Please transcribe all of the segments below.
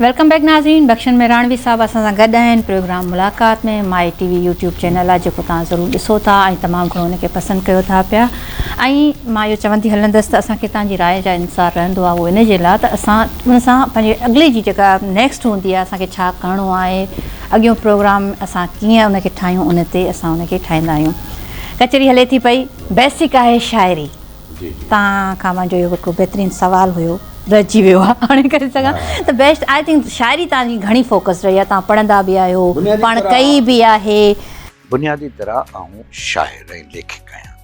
Welcome back ناظرين بخشن مهراڻوي صاحب اسان سان گڏ آهن programme Mulaqat ۾ my TV YouTube channel آهي جيڪو توهان ضرور ڏسو ٿا ۽ تمام گهڻو ان کي پسند ڪيو ٿا پيا ۽ مان اهو چوندي هلندس ته اسان کي توهان جي راء جا انتظار رهندو آهي اهو ان جي لاء ته اسان ان سان پنهنجي اڳلي جي جيڪا نيڪسٽ هوندي آهي اسان کي ڇا ڪرڻو آهي اڳيون پروگرام اسان ڪيئن ان کي ٺاهيون ان تي اسان ان کي ٺاهيندا آهيون ڪچهري هلي ٿي پئي بيسڪ آهي شاعري توهان کان منهنجو اهو هڪڙو بهترين سوال هيو رهجي ويو آهي هاڻي ڪري سگهان ته بيسٽ آء ٿنڪ شاعري توهان جي گهڻي فوڪس رهي آهي توهان پڙهندا به آهيو پاڻ ڪئي به آهي. بنيادي طرح آئون شاعر ۽ ليکڪ آهيان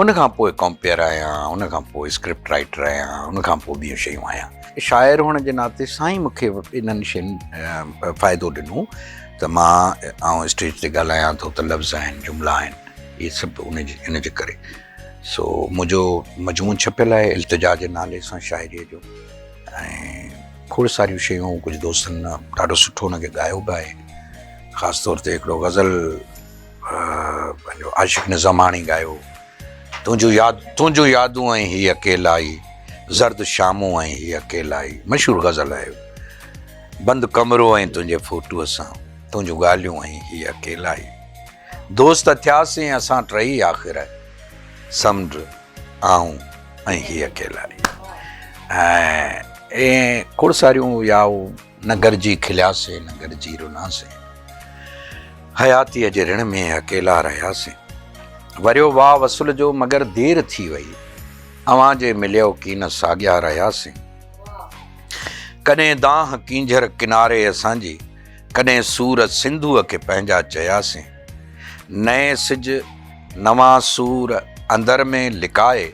ان کان پوء ڪمپيئر آهيان ان کان پوء اسڪرپٽ رائيٽر آهيان ان کان پوء ٻيون شيون آهيان شاعر هئڻ جي ناتي سان ئي مون کي انهن شين فائدو ڏنو ته مان آئون اسٽيج تي ڳالهايان ٿو ته لفظ آهن جملا آهن اهي سڀ ان جي ان جي ڪري. سو منهنجو مجموعو ڇپيل آهي التجا جي نالي سان شاعريء جو ۽ کوڙ ساريون شيون ڪجهه دوستن ڏاڍو سٺو ان کي ڳايو به آهي خاص طور تي هڪڙو غزل پنهنجو عاشق نظاماڻي ڳايو تنهنجو ياد تنهنجو يادون ۽ هي اڪيلائي زرد شامون ۽ هي اڪيلائي مشهور غزل آهي بند ڪمرو ۽ تنهنجي فوٽوء سان تنهنجون ڳالهيون ۽ هي اڪيلائي دوست ٿياسين اسان ٽئي آخر سمنڊ آئون ۽ هي اڪيلا ئي ۽ ائين کوڙ ساريون يا نه گڏجي کلياسين نه گڏجي روناسين حياتيء جي رڻ ۾ اڪيلا رهياسين وريو واء وصل جو مگر دير ٿي وئي اوهان جي مليو ڪين ساڳيا رهياسين ڪڏهن دانهن ڪينجهر ڪناري اسان جي ڪڏهن سور سنڌوء کي پنهنجا چياسين. نئين سج نوان سور اندر ۾ لڪائي،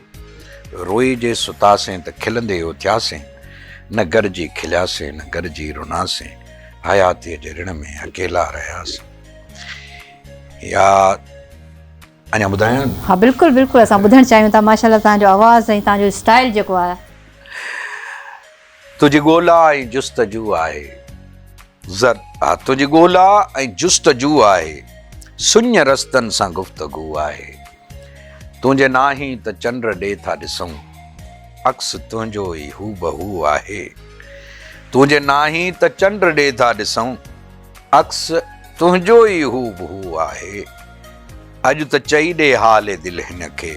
روئي جي ستاسين ته کلندي اٿياسين، نه گڏجي کلياسين نه گڏجي روناسين، حياتيء جي رڻ ۾ اڪيلا رهياسين. يا اڃا ٻڌايان؟ ها بلڪل بلڪل اسان ٻڌڻ چاهيون ٿا ماشاءالله توهان جو آواز ۽ توهان جو اسٽائل جيڪو آهي. تنهنجي ڳولا ۽ جستجو آهي زر آ تنهنجي ڳولا ۽ جستجو آهي سڃ رستن سان گفتگو آهي تنهنجي ناهين ته چنڊ ڏي ٿا ڏسون عڪس تنهنجو ئي هوبهو آهي تنهنجي ناهين ته چنڊ ڏي ٿا ڏسون عڪس تنهنجو ئي هوبهو آهي اڄ ته چئي ڏي حال دل هن کي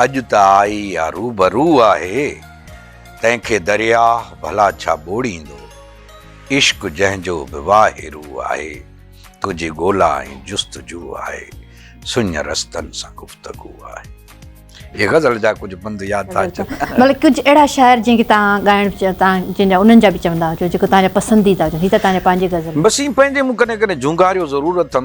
اڄ ته آئي يا روبرو آهي، تنهن کي درياهه ڀلا ڇا ٻوڙيندو. عشق جنهن جو به واهه روء آهي، تنهنجي ڳولا ۽ جستجو آهي، سڃ رستن سان گفتگو آهي. هي غزل جا ڪجهه بند ياد ٿا اچن. مطلب ڪجهه اهڙا شاعر جن کي توهان ڳائڻ چاهيو توهان جن جا انهن جا به چوندا هجو جيڪو توهان جا پسنديده هجن هي ته توهان جا پنهنجي غزل. بس ايئن پنهنجي مون ڪڏهن ڪڏهن جهونگاريو ضرور اٿم.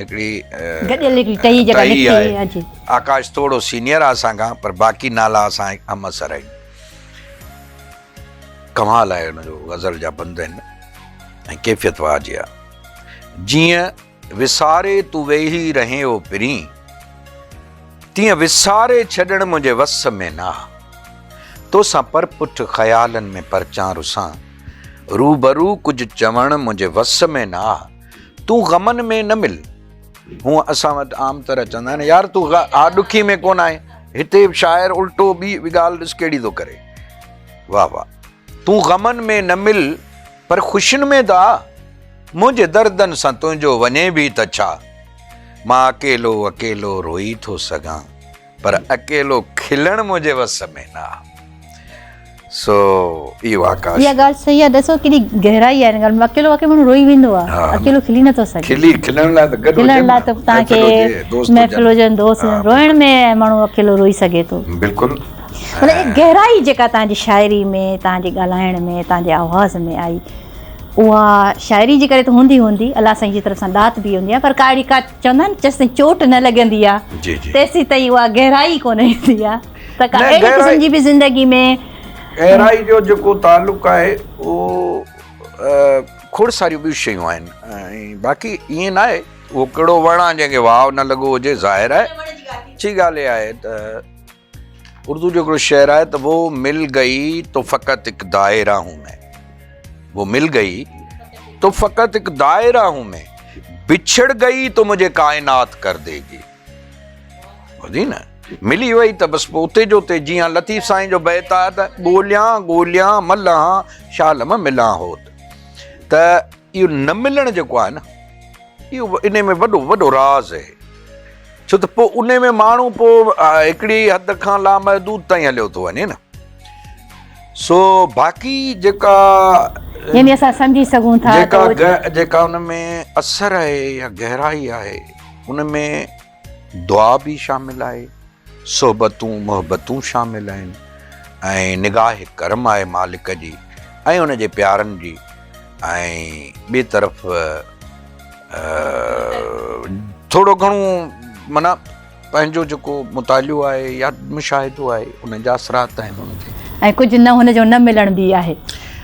هڪڙي گڏيل هڪڙي ٽهي جيڪا نڪتي آهي آڪاش ٿورو سينيئر آهي اسان کان پر باقي نالا اسان هڪ همعصر آهن ڪمال آهي ان جو غزل جا بند آهن ۽ ڪيفيت واه جي آهي جيئن وساري تو ويهي رهين او پرين تيئن وساري ڇڏڻ منهنجي وس ۾ نه توسان پر پٺ خيالن ۾ پرچان رسان روبرو ڪجهه چوڻ منهنجي وس ۾ نه تون غمن ۾ نه مل. هونء اسان وٽ عام طرح چوندا آهن، يار تون غ آ ڏکي ۾ ڪونه آهين. هتي شاعر الٽو ٻي ڳالهه ڏس ڪهڙي ٿو ڪري. واهه واهه. تون غمن ۾ نه مل پر خوشين ۾ ته آ. منهنجي دردن سان تنهنجو وڃي به ته ڇا. مان اڪيلو اڪيلو روئي ٿو سگهان. پر اڪيلو کلڻ منهنجي وس ۾ نه آهي. سو اهو آڪاش. اها ڳالهه صحيح آهي ڏسو ڪيڏي گهرائي آهي ان ڳالهه ۾ اڪيلو واقعي ماڻهو روئي ويندو آهي اڪيلو کلي نه ٿو سگهي. کلي کلڻ لاء ته گڏ هجن کلڻ لاء ته تان کي محفل هجن دوست هجن روئڻ ۾ ماڻهو اڪيلو روئي سگهي ٿو. بلڪل. مطلب اها گهرائي جيڪا تان جي شاعري ۾ تان جي ڳالهائڻ ۾ تان جي آواز ۾ آئي اها شاعري جي ڪري ته هوندي هوندي الله سائين جي طرف سان ڏات به هوندي آهي پر ڪا اهڙي ڪا چوندا آهن جيسين چوٽ نه لڳندي آ تيسين تائين اها گهرائي ڪونه ايندي آ ته ڪا اهڙي قسم جي به زندگي ۾ گهرائي جو جيڪو تعلق آهي اهو کوڙ ساريون ٻيون شيون آهن ۽ باقي ائين ناهي اهو ڪهڙو وڻ آ جنهن کي واء نه لڳو هجي ظاهر آهي اچي ڳالهه اها آهي ته اردو جو هڪڙو شعر آهي ته وو مل گئي تو فقط هڪ دائره هون مين وو مل گئي تو فقط هڪ دائره هون مين بڇڙ گئي تو مجھي ڪائنات ڪر دي گي ٻڌي نه ملي وئي ته بس پوء اتي جو اتي جيئن لطيف سائين جو بيت آهي ته ڳوليان ڳوليان ملان شالم ملان هوت ته اهو نه ملڻ جيڪو آهي نه اهو انهي ۾ وڏو وڏو راز اهي ڇو ته پوء انهي ۾ ماڻهو پوء هڪڙي حد کان لامحدود تائين هليو ٿو وڃي نه سو باقي جيڪا يعني اسان سمجهي سگهون ٿا جيڪا جيڪا ان ۾ اثر آهي يا گهرائي آهي ان ۾ دعا به شامل آهي، صحبتون محبتون شامل آهن ۽ نگاهه ڪرم آهي مالڪ جي ۽ ان جي پيارن جي ۽ ٻي طرف ٿورو گهڻو معنيٰ پنهنجو جيڪو مطالعو آهي يا مشاهدو آهي ان جا اثرات آهن ان تي. ۽ ڪجهه نه هن جو نه ملڻ به آهي.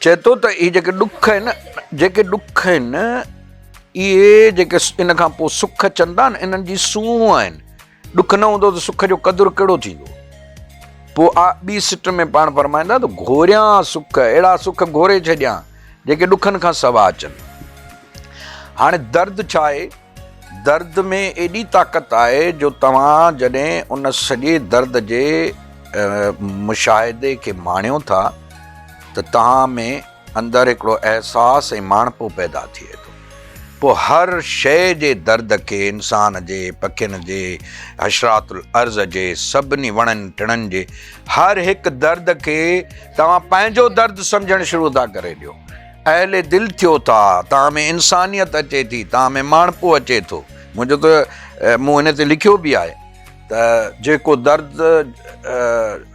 چئي ٿو ته اهي جيڪي ڏک آهن، جيڪي ڏک آهن، اهي جيڪي ان کان پوء سک اچن ٿا، انهن جي سونهن آهن. ڏک نه هوندو ته سک جو قدر ڪهڙو ٿيندو؟ پوء آء ٻي سٽ ۾ پاڻ فرمائين ٿا ته گهوريان سک، اهڙا سک گهوري ڇڏيان، جيڪي ڏکن کان سواء اچن. هاڻي درد ڇا آهي؟ درد ۾ ايڏي طاقت آهي جو توهان جڏهن ان سڄي درد جي مشاهدي کي ماڻيو ٿا ته توهان ۾ اندر هڪڙو احساس ۽ ماڻهپو پيدا ٿئي ٿو. پوء هر شيء جي درد کي انسان جي، پکين جي، حشرات الارض جي، سڀني وڻن ٽڻن جي هر هڪ درد کي توهان پنهنجو درد سمجهڻ شروع ٿا ڪري ڏيو. اهل دل ٿيو ٿا، توهان ۾ انسانيت اچي ٿي، توهان ۾ ماڻهپو اچي ٿو. منهنجو ته مون هن تي لکيو به آهي ته جيڪو درد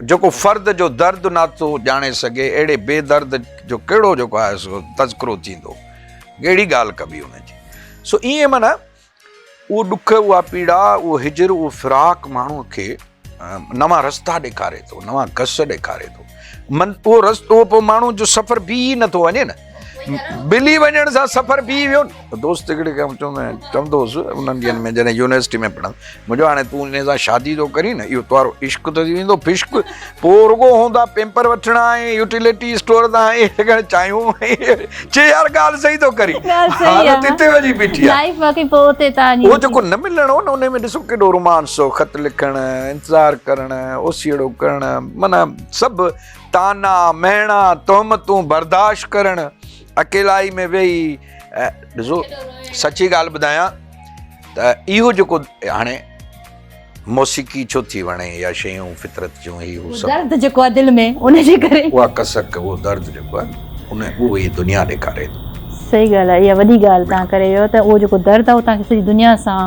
جيڪو فرد جو درد ناٿو ڄاڻي سگهي اهڙي بي درد جو ڪهڙو جيڪو آهي سو تذڪرو ٿيندو ڪهڙي ڳالهه ڪبي ان جي سو ائين معنيٰ اهو ڏک، اها پيڙا، اهو هجر، اهو فراق ماڻهوء کي نوان رستا ڏيکاري ٿو، نوان گس ڏيکاري ٿو. من اهو رستو پوء ماڻهو جو سفر بيهي ئي نٿو وڃي نه. بلي وڃڻ سان سفر بيهي ويو نه. دوست هڪڙي کي آئون چوندو آهيان، چوندو هوس انهن ڏينهن ۾ جڏهن يونيورسٽيء ۾ پڙهندو، منهنجو هاڻي تون انهيء سان شادي ٿو ڪرين نه، اهو تنهارو عشق ته ٿي ويندو فشق. پوء رڳو هوندا پيمپر وٺڻا ۽ يوٽيلٽي اسٽور تان اهي لڳڻ چايون چي يار ڳالهه صحيح ٿو ڪرين حالت هتي وڃي بيٺي آهي لائيف باقي پوء اتي تان اهو جيڪو نه ملڻ هو نه ان ۾ ڏسو ڪيڏو رومانس هو خط لکڻ انتظار ڪرڻ اوسيئڙو ڪرڻ معنيٰ سڀ طعنا مهڻا تهمتون برداشت ڪرڻ اڪيلائي ۾ ويهي ڏسو سچي ڳالهه ٻڌايان ته اهو جيڪو هاڻي موسيقي ڇو ٿي وڻي يا شيون فطرت جون هي هو سڀ. درد جيڪو آهي دل ۾ ان جي ڪري. اها ڪسڪ اهو درد جيڪو آهي ان اهو هي دنيا ڏيکاري ٿو. صحيح ڳالهه آهي اها وڏي ڳالهه تهان ڪري ويو ته اهو جيڪو درد آهي اهو تهان کي سڄي دنيا سان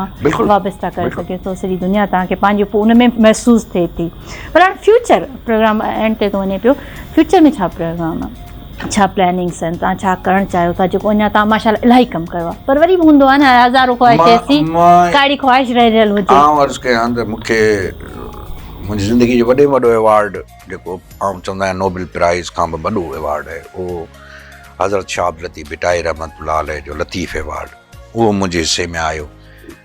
وابسته ڪري سگهي ٿو سڄي دنيا تهان کي پنهنجي ان ۾ محسوس ٿئي ٿي پر هاڻ فيوچر پروگرام اينڊ تي ٿو وڃي پيو فيوچر ۾ ڇا پروگرام آهي. ڇا پلاننگس آهن توهان ڇا ڪرڻ چاهيو ٿا جيڪو اڃا توهان ماشاء الله الاهي ڪم ڪيو آهي پر وري به هوندو آهي نه هزارون خواهش ٿئي ٿي ڪاڙي خواهش رهي رهيل هجي آئون عرض ڪيان ته مون کي منهنجي زندگي جو وڏي ۾ وڏو ايوارڊ جيڪو آئون چوندو آهيان نوبل پرائز کان به وڏو ايوارڊ آهي اهو حضرت شاهه عبداللطيف ڀٽائي رحمة الله عليه جو لطيف ايوارڊ اهو منهنجي حصي ۾ آيو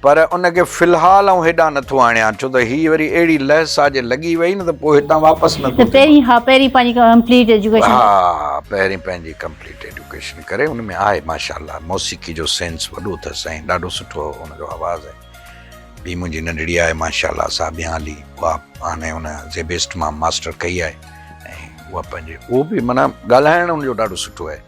پر ان کي في الحال آئون هيڏانهن نه ٿو آڻيان، ڇو ته هيء وري اهڙي لئه سان جي لڳي وئي نه ته پوء هتان واپس نه ٿو ٿي پهرين ها پهرين پنهنجي ڪمپليٽ ايجوڪيشن ها پهرين پنهنجي ڪمپليٽ ايجوڪيشن ڪري ان ۾ آهي ماشاء الله موسيقي جو سينس وڏو اٿس ۽ ڏاڍو سٺو ان جو آواز ۽ ٻي منهنجي ننڍڙي آهي ماشاء الله سابيان علي اها هاڻي ان زيبيسٽ مان ماسٽر ڪئي آهي ۽ اها پنهنجي اهو به معنيٰ ڳالهائڻ ان جو ڏاڍو سٺو آهي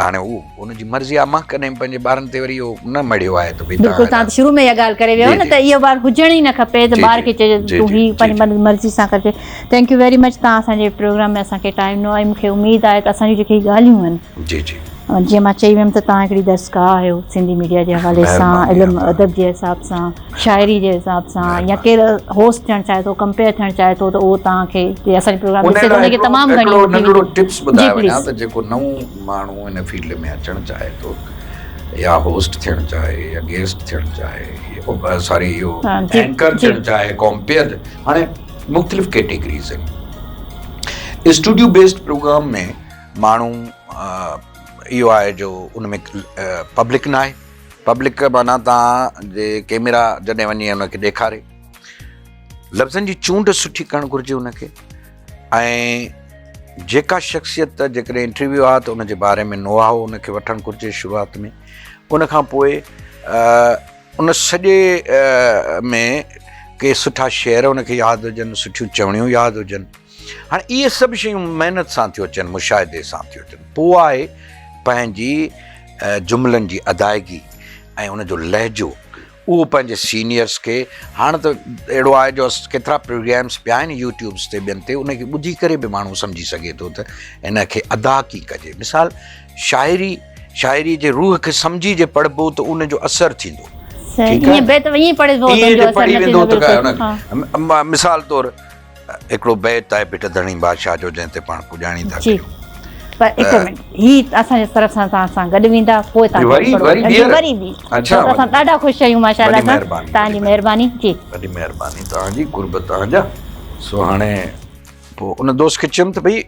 هاڻي هو ان جي مرضي آهي مان ڪڏهن پنهنجي ٻارن تي وري اهو نه مڙهيو آهي ته بلڪل تان شروع ۾ اها ڳالهه ڪري ويو نه ته اهو ٻار هجڻ ئي نه کپي ته ٻار کي چئجي ته تون هي پنهنجي مرضي سان ڪرجي ٿينڪ يو ويري مچ تان اسان جي پروگرام ۾ اسان کي ٽائيم ڏنو ۽ مون کي اميد آهي ته اسان جون جيڪي ڳالهيون آهن جي جي جيئن مان چئي ويم ته تان هڪڙي درسگاهه آهيو سنڌي ميڊيا جي حوالي سان علم ادب جي حساب سان شاعري جي حساب سان يا ڪير هوسٽ ٿيڻ چاهي ٿو ڪمپيئر ٿيڻ چاهي ٿو ته اهو توهان کي جي اسان جو پروگرام ڏسي ٿو ان کي تمام گهڻي هڪڙو ننڍڙو ٽپس ٻڌائي وڃان ته جيڪو نئون ماڻهو ان فيلڊ ۾ اچڻ چاهي ٿو يا هوسٽ ٿيڻ چاهي يا گيسٽ ٿيڻ چاهي ساري اهو اينڪر ٿيڻ چاهي ڪمپيئر هاڻي مختلف ڪيٽيگريز آهن اسٽوڊيو بيسڊ پروگرام ۾ ماڻهو اهو آهي جو ان ۾ پبلڪ ناهي پبلڪ معنيٰ تان جي ڪيميرا جڏهن وڃي ان کي ڏيکاري. لفظن جي چونڊ سٺي ڪرڻ گهرجي ان کي ۽ جيڪا شخصيت جيڪڏهن انٽرويو آهي ته ان جي باري ۾ نوحاء ان کي وٺڻ گهرجي شروعات ۾ ان کان پوء ان سڄي ۾ ڪي سٺا شعر ان کي ياد هجن سٺيون چوڻيون ياد هجن. هاڻي اهي سڀ شيون محنت سان ٿيون اچن، مشاهدي سان ٿيون اچن، پوء آء پنهنجي جملن جي ادائگي ۽ ان جو لهجو اهو پنهنجي سينيئرس کي هاڻ ته اهڙو آهي جو ڪيترا پروگرامس پيا آهن يوٽيوبس تي ٻين تي ان کي ٻڌي ڪري به ماڻهو سمجهي سگهي ٿو ته ان کي ادا ڪي ڪجي مثال شاعري شاعري جي روح کي سمجهي جي پڙهبو ته ان جو اثر ٿيندو ٺيڪ آهي ائين پڙهبو ته ان جو اثر نه ٿيندو مثال طور هڪڙو بيت آهي ڀٽ ڌڻي بادشاهه جو جنهن تي پاڻ پڄاڻي ٿا ڪيون. پوء ان دوست کي چيم ته ڀئي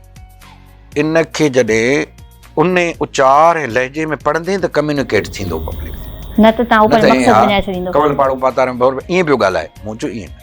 ان کي جڏهن ان اچار ۽ لهجي ۾ پڙهندين ته ڪميونيڪيٽ ٿيندو پبلڪ سان نه ته ائين ها ڪنول پاڙو پاتار ۾ ڀور ائين پيو ڳالهائي مون چيو ائين نه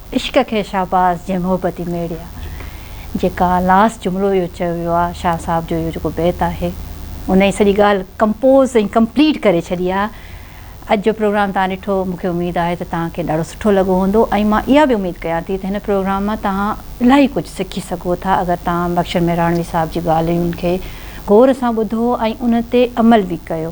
عشق کي شهباز جي محبتي ميڙيا جيڪا لاس جملو اهو چيو ويو آهي شاهه صاحب جو اهو جيڪو بيت آهي ان ئي سڄي ڳالهه ڪمپوز ۽ ڪمپليٽ ڪري ڇڏي آهي اڄ جو پروگرام تهان ڏٺو مون کي اميد آهي ته تهان کي ڏاڍو سٺو لڳو هوندو ۽ مان اها به اميد ڪيان ٿي ته هن پروگرام مان تهان الاهي ڪجهه سکي سگهو ٿا اگر تهان بخشڻ مهراڻوي صاحب جي ڳالهين کي غور سان ٻڌو ۽ ان تي عمل به ڪيو